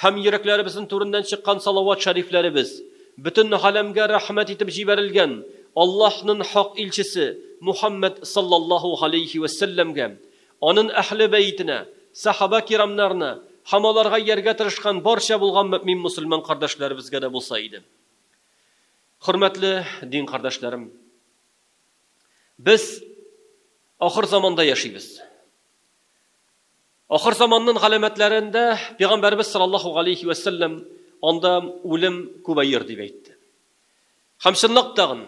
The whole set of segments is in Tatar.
Һәм йөрәкләребезнең түреннән чыккан салават шәрифләребез, бөтен галәмгә рәхмәт итеп җибәрелгән Аллаһнын хак илчесе Мухәммәд саллаллаһу галәйһи вә сәлләмгә, анын әһле бәетенә, сәхабә кирамнарына һәм аларга ияргә тырышкан барча булган мөэмин мөселман кардәшләребезгә дә булса иде. Хөрмәтле дин кардәшләрем! Без ахыр заманда яшибез. Ахыр заманнын галәмәтләрендә Пигамбәребез салаллаһу галәйһи вә сәлләм анда үлем күбәер дип әйтте. Һәм чынлап тагын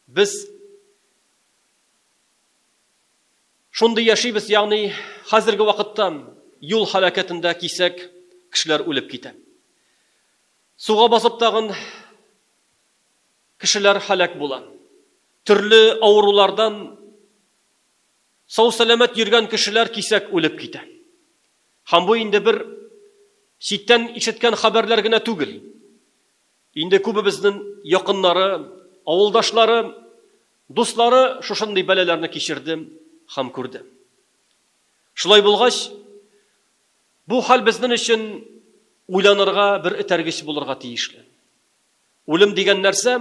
без шундый яшибез, ягъни хәзерге вакытта юл һәлакәтендә кисәк кешеләр үлеп китә. Суга басып тагын кешеләр һәлак була. Төрле авырулардан Сау-сәламәт йөргән кешеләр кисәк үлеп китә. Һәм бу инде бер читтән ишеткән хәбәрләр генә түгел. Инде күбебезнең якыннары, авылдашлары, дуслары шушындый бәлаләрне кичерде һәм күрде. Шулай булгач, бу хәл безнең өчен уйланырга, бер этәргеч булырга тиешле. Үлем дигән нәрсә,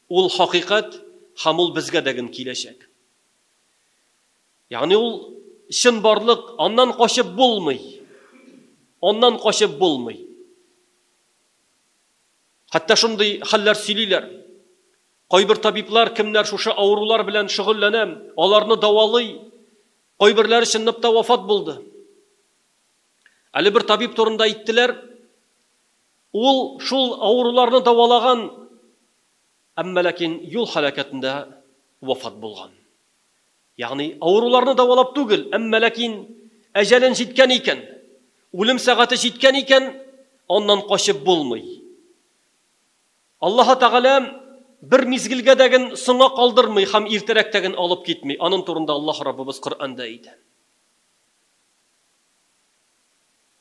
ул хакыйкать һәм ул безгә дә гөн киләчәк. Ягъни ул чын барлык, аннан качып булмый. Аннан качып булмый. Хәтта шундый хәлләр сөйлиләр. Кайбер табиблар, кемнәр шушы авырулар белән шөгыльләнә, аларны давалый. Кайберләре чынлап та вафат булды. Әле бер табиб турында әйттеләр, ул шул авыруларны давалаган Әмма ләкин юл һәлакәтендә вафат булган. Ягъни, авыруларны дәвалап түгел, әмма ләкин әҗәлен җиткән икән, үлем сәгате җиткән икән, аннан качып булмый. Аллаһы Тәгалә бер мизгелгә дә ген соңга калдырмый һәм иртәрәк тә ген алып китми. Анын турында Аллаһ Раббыбыз Коръәндә әйтә.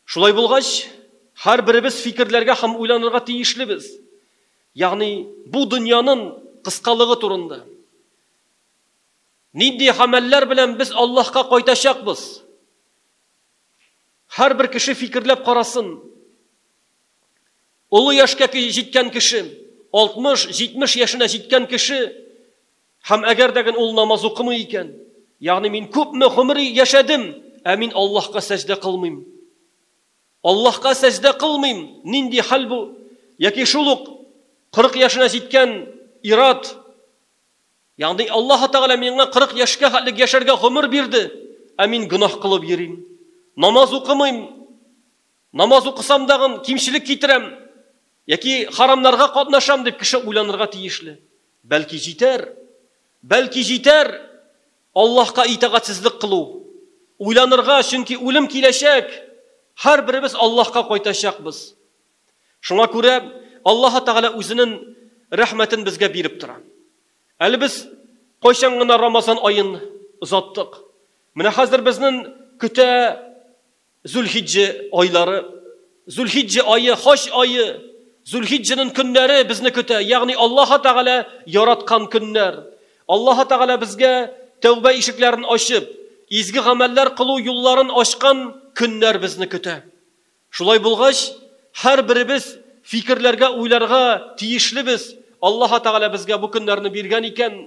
Шулай булгач, һәрберебез фикерләргә һәм уйланырга тиешлебез, ягъни бу дөньянын кыскалыгы турында. Нинди гамәлләр белән без Аллаһка кайтачакбыз? Һәрбер кеше фикерләп карасын. Олы яшькә җиткән кеше, 60, 70 яшенә җиткән кеше Һәм әгәр дә гел ул намаз укымый икән, ягъни мин күпме гомер яшәдем, ә мин Аллаһка сәҗдә кылмыйм. Аллаһка сәҗдә кылмыйм, нинди хәл бу? Яки шул ук 40 яшенә җиткән ир-ат, ягъни Аллаһ Тәгалә миңа 40 яшькә хәтлек яшәргә гомер бирде, ә мин гөнаһ кылып йөрим, намаз укымыйм, Намаз укысам дагын кимчелек китерәм яки харамнарга катнашам дип кеше уйланырга тиешле. Бәлки җитәр. Бәлки җитәр Аллаһка итагатьсезлек кылу. Уйланырга, чөнки үлем киләчәк. Һәрберебез Аллаһка кайтачакбыз. Шуңа күрә Аллаһы Тәгалә үзенен рәхмәтен безгә биреп тора. Әле без кайчан гына Рамазан аен озаттык. Менә хәзер безнен көтә Зулхиҗҗә айлары, Зулхиҗҗә ае, хаҗ ае, Зулхиҗҗәнең көннәре безне көтә, ягъни Аллаһы Тәгалә яраткан көннәр. Аллаһы Тәгалә безгә тәүбә ишекләрен ачып, изге гамәлләр кылу юлларын ачкан көннәр безне көтә. Шулай булгач, һәрберебез фикерләргә, уйларга тиешлебез, Аллаһы Тәгалә безгә бу көннәрне биргән икән,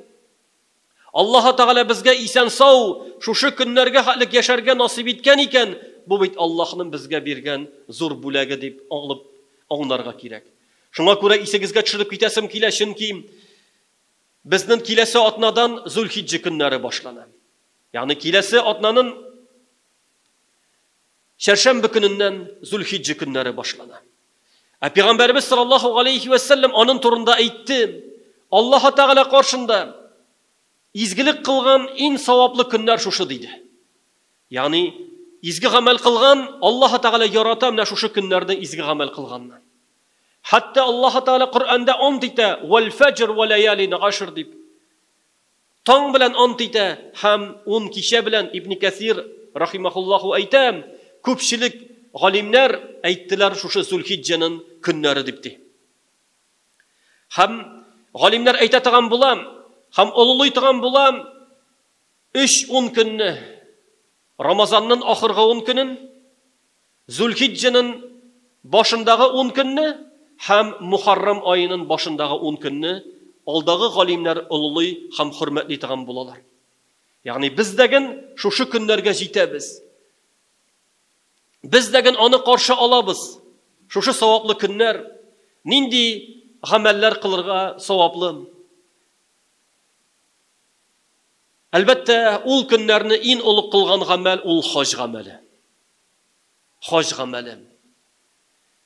Аллаһы Тәгалә безгә исән-сау шушы көннәргә хәтлек яшәргә насыйп иткән икән, бу бит Аллаһның безгә биргән зур бүләге дип алып аңларга кирәк. Шуңа күрә исегезгә төшереп китәсем килә, чөнки безнен киләсе атнадан Зулхиҗҗә көннәре башлана. Ягъни киләсе атнанын Чәршәмбе көненнән Зулхиҗҗә көннәре башлана. Ә Пәйгамбәребез саллаллаһу галәйһи вә сәлләм анын турында әйтте, Аллаһы Тәгалә каршында изгелек кылган ин саваплы көннәр шушы, диде. Ягъни, изге гамәл кылган, Аллаһы Тәгалә ярата менә шушы көннәрдә изге гамәл кылганны. Хәтта Аллаһы Тәгалә Коръәндә ант итә, Вәл фәҗр вә ләялин гашр, дип. Таң белән ант итә һәм ун кичә белән Ибне Кәсир рахимәһуллаһу әйтә, күпчелек галимнәр әйттеләр шушы Зулхиҗҗәнен көннәре дип ди. Һәм галимнәр әйтә таган була һәм олылый таган була өч ун көнне, Рамазаннын ахыргы ун көнен, Зулхиҗҗәнен башындагы ун көнне һәм Мухаррам аенын башындагы ун көнне алдагы галимнәр олылый һәм хөрмәтли торган булалар. Ягъни без дәген шушы көннәргә җитәбез. Без дәген аны каршы алабыз. Шушы саваплы көннәр, нинди гамәлләр кылырга саваплы? Әлбәттә, ул көннәрне ин олы кылган гамәл ул хаҗ гамәле. хаҗ гамәле.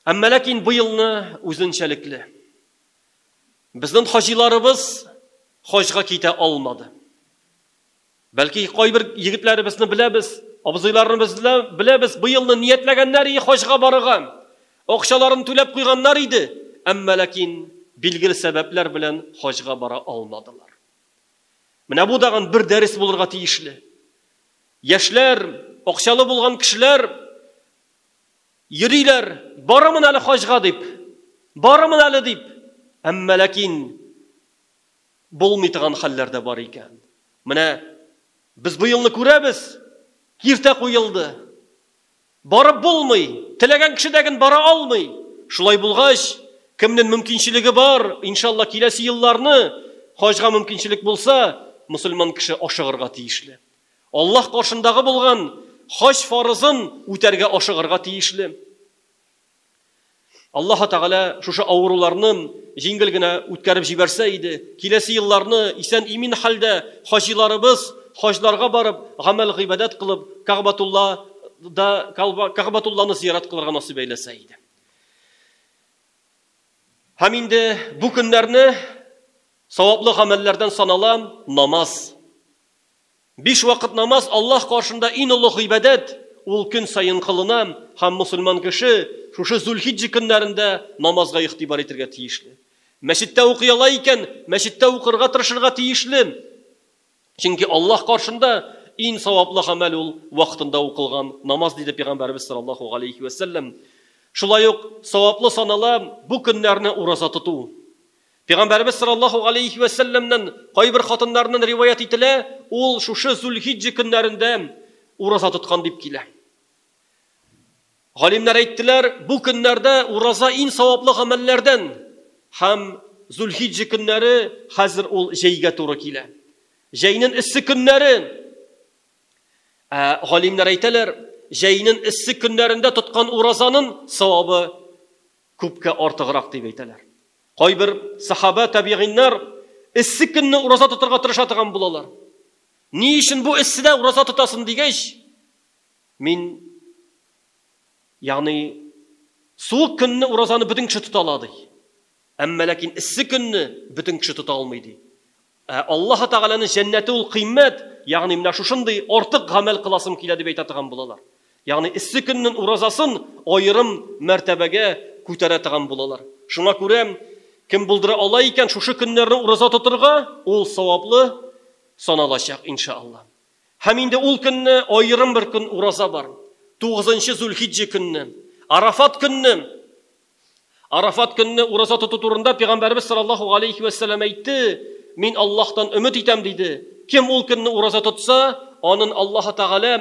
Әмма ләкин бу елны үзенчәлекле. Безнең хаҗиларыбыз хаҗга китә алмады. Бәлки кайбер егетләребезне беләбез, абзыйларыбызны беләбез, бу елны ниятләгәннәр и хаҗга барырга. Акчаларын түләп куйганнар иде, әмма ләкин билгеле сәбәпләр белән хаҗга бара алмадылар. Менә бу дагын бер дәрес булырга тиешле. Яшьләр, акчалы булган кешеләр йөриләр, барырмын әле хаҗга дип, барырмын әле дип, әмма ләкин булмый торган хәлләр дә бар икән. Менә без бу елны күрәбез, киртә куелды. Барып булмый, теләгән кеше дә гэн бара алмый. Шулай булгач, кемнен мөмкинчелеге бар, иншалла киләсе елларны, хаҗга мөмкинчелек булса, мөселман кеше ашыгырга тиешле. Аллаһ каршындагы булган хаҗ фарызын үтәргә ашыгырга тиешле. Аллаһы Тәгалә шушы авыруларны җиңел генә үткәреп җибәрсә иде, киләсе елларны исән-имин хәлдә хаҗиларыбыз хаҗларга барып, гамәл-гыйбадәт кылып, Кәгъбатулла да Кәгъбатулланы зиярат кылырга насыйп әйләсә иде. Һәм инде бу көннәрне саваплы гамәлләрдән санала намаз. Биш вакыт намаз Аллаһ каршында ин олуг гыйбадәт, ул көн саен кылына һәм мөселман кеше шушы Зулхиҗҗә көннәрендә намазга игътибар итергә тиешле. Мәчеттә укый ала икән, мәчеттә укырга тырышырга тиешле, чөнки Аллаһ каршында ин саваплы гамәл ул вакытында укылган намаз, диде Пәйгамбәребез саллаллаһу галәйһи вә сәлләм. Шулай ук саваплы санала бу көннәрне ураза тоту. Пигамбәребез саллаллаһу галәйһи вә сәлләмнән кайбер хатыннарыннан риваять ителә, ул шушы Зулхиҗҗә көннәрендә ураза тоткан дип килә. Галимнәр әйттеләр, бу көннәрдә ураза иң саваплы гамәлләрдән һәм Зулхиҗҗә көннәре хәзер ул җәйгә туры килә. Җәйнен эссе көннәре ә, галимнәр әйтәләр, җәйнен эссе көннәрендә тоткан уразанын савабы Күпкә артыграк дип әйтәләр. Кайбер сахабә, табигыйннар эссе көнне ураза тотарга тырыша торган булалар. Ни өчен бу эсседә ураза тотасын дигәч, мин ягъни суык көнне уразаны бөтен кеше тота ала ди. Әмма ләкин эссе көнне бөтен кеше тота алмый ди. Ә Аллаһы Тәгаләнең җәннәте ул кыйммәт, ягъни менә шушындый артык гамәл кыласым килә дип әйтә торган булалар. Ягъни эссе көннең уразасын аерым мәртәбәгә күтәрә торган булалар. Шуңа күрә кем булдыра ала икән шушы көннәрне ураза тотырга, ул саваплы саналачак, иншаАлла. Һәм инде ул көнне аерым бер көн ураза бар, тугызынчы Зулхиҗҗә көнне, Арафат көнне. Арафат көнне ураза тоту турында пәйгамбәрбез саллаллаһу галәйһи ва сәлләм әйтте, мин Аллаһтан өмет итәм диде. Кем ул көнне ураза тотса, анын Аллаһы Тәгалә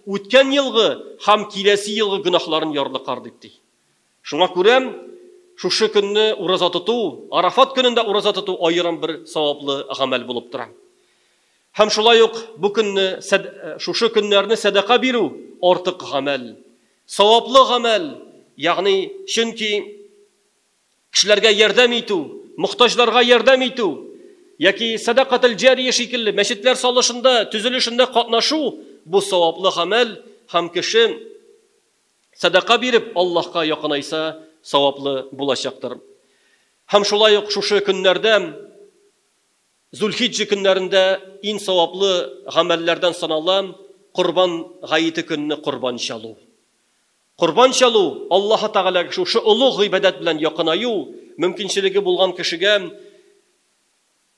үткән елгы һәм киләсе елгы гөнаһларын ярлыкар дип ди. Шуңа күрә шушы көнне ураза тоту, Арафат көнендә ураза тоту аерым бер саваплы гамәл булып тора. Һәм шулай ук бу көнне, шушы көннәрне сәдака бирү артык гамәл. Саваплы гамәл, ягъни, чөнки кешеләргә ярдәм итү, мохтаҗларга ярдәм итү яки сәдакател-җария шикелле мәчетләр салышында, төзелешендә катнашу, бу саваплы гамәл һәм кеше сәдака биреп Аллаһка якынайса, саваплы булачактыр. Һәм шулай ук шушы көннәрдә Зулхиҗҗә көннәрендә иң саваплы гамәлләрдән санала Корбан гаете көнне корбан чалу. Корбан чалу, Аллаһы Тәгаләгә шушы олуг гыйбадәт белән якынаю, мөмкинчелеге булган кешегә,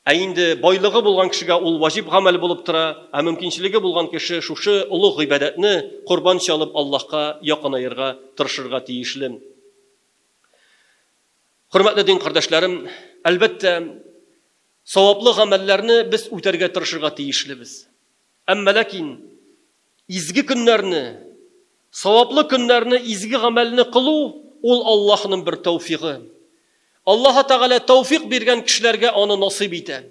ә инде байлыгы булган кешегә ул ваҗиб гамәл булып тора, ә мөмкинчелеге булган кеше шушы олуг гыйбадәтне корбан чалып Аллаһка якынаерга тырышырга тиешле. Хөрмәтле дин кардәшләрем, әлбәттә, саваплы гамәлләрне без үтәргә тырышырга тиешлебез. Әмма ләкин изге көннәрне, саваплы көннәрне, изге гамәлне кылу ул Аллаһның бер тәүфигы. Аллаһ Тәгалә тәүфик биргән кешеләргә аны насыйп итә.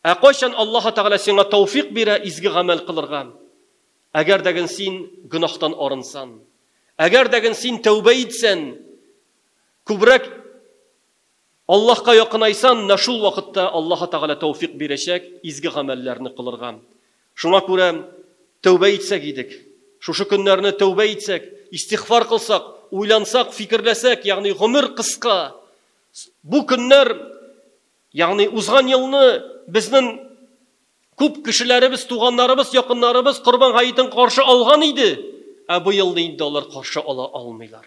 Ә кайчан Аллаһ Тәгалә сиңа тәүфик бирә изге гамәл кылырга? Әгәр дәген син гөнаһтан арынсан, әгәр дәген син тәүбә итсән, Күбрәк Аллаһка якынайсаң, менә шул вакытта Аллаһы Тәгалә тәүфик бирәчәк изге гамәлләрне кылырга. Шуңа күрә тәүбә итсәк идек. Шушы көннәрне тәүбә итсәк, истигъфар кылсак, уйлансак, фикерләсәк, ягъни гомер кыска. Бу көннәр, ягъни узган елны безнең күп кешеләребез, туганнарыбыз, якыннарыбыз Корбан гаетен каршы алган иде, ә быел инде алар каршы ала алмыйлар.